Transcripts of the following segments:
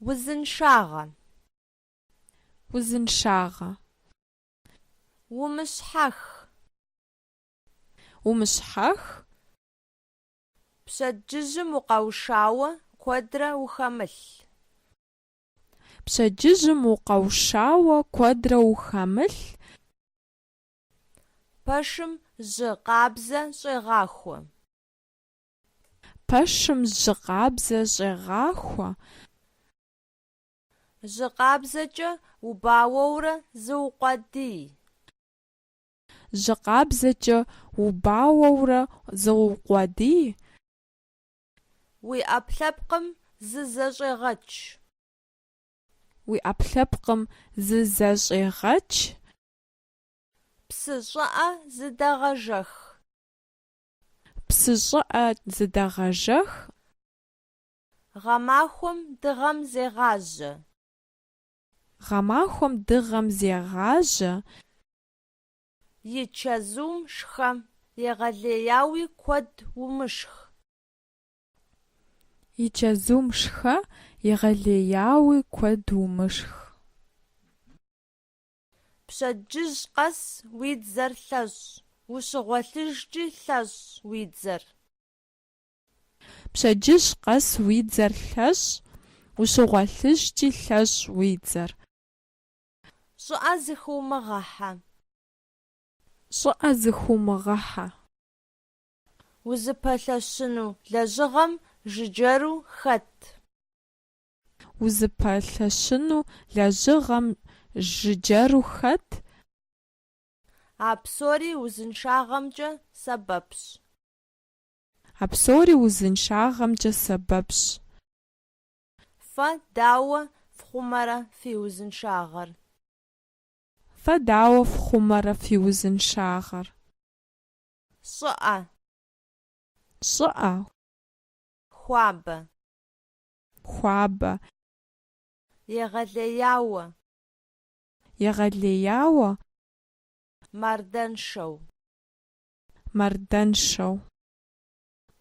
Узыншагъэ. Узыншагъэ. Умыщхьэх. Умыщхьэх. Пщэдджыжьым укъэушауэ куэдрэ ухэмылъ. Пщэдджыжьым укъэушауэ куэдрэ ухэмылъ. Пэшым жьы къабзэ щӏегъахуэ. Пэшым жьы къабзэ щӏегъахуэ. Жьы къабзэкӏэ убауэурэ зыукъуэдий. Жьы къабзэкӏэ убауэурэ зыукъуэдий. Уи ӏэпкълъэпкъым зызэщӏегъэч. Уи ӏэпкълъэпкъым зызэщӏегъэч. Псы щӏыӏэ зыдэгъэжэх. Псы щӏыӏэ зыдэгъэжэх. Гъэмахуэм дыгъэм зегъажьэ. Гъэмахуэм дыгъэм зегъажьэ. И чэзум шхэ. Егъэлеяуи куэд умышх. И чэзум шхэ. Егъэлеяуи куэд умышх. Пщэдджыжь къэс уи дзэр лъэщӏ. Ущыгъуэлъыжкӏи лъэщӏ уи дзэр. Пщэдджыжь къэс уи дзэр лъэщӏ. Ущыгъуэлъыжкӏи лъэщӏ уи дзэр. Щӏыӏэ зыхыумыгъэхьэ. Щӏыӏэ зыхыумыгъэхьэ. Узыпэлъэщыну лэжьыгъэм жыджэру хэт. Узыпэлъэщыну лэжьыгъэм жыджэру хэт. А псори узыншагъэмкӏэ сэбэпщ. А псори узыншагъэмкӏэ сэбэпщ. Фэ дауэ фхъумэрэ фи узыншагъэр? Фэ дауэ фхъумэрэ фи узыншагъэр? Щӏыӏэ. Щӏыӏэ. Хуабэ. хуабэ. Егъэлеяуэ. Егъэлеяуэ. Мардэншэу. Мардэншэу.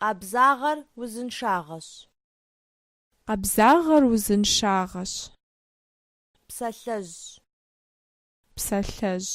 Къабзагъэр узыншагъэщ. Къабзагъэр узыншагъэщ. Псалъэжь. Псалъэжь.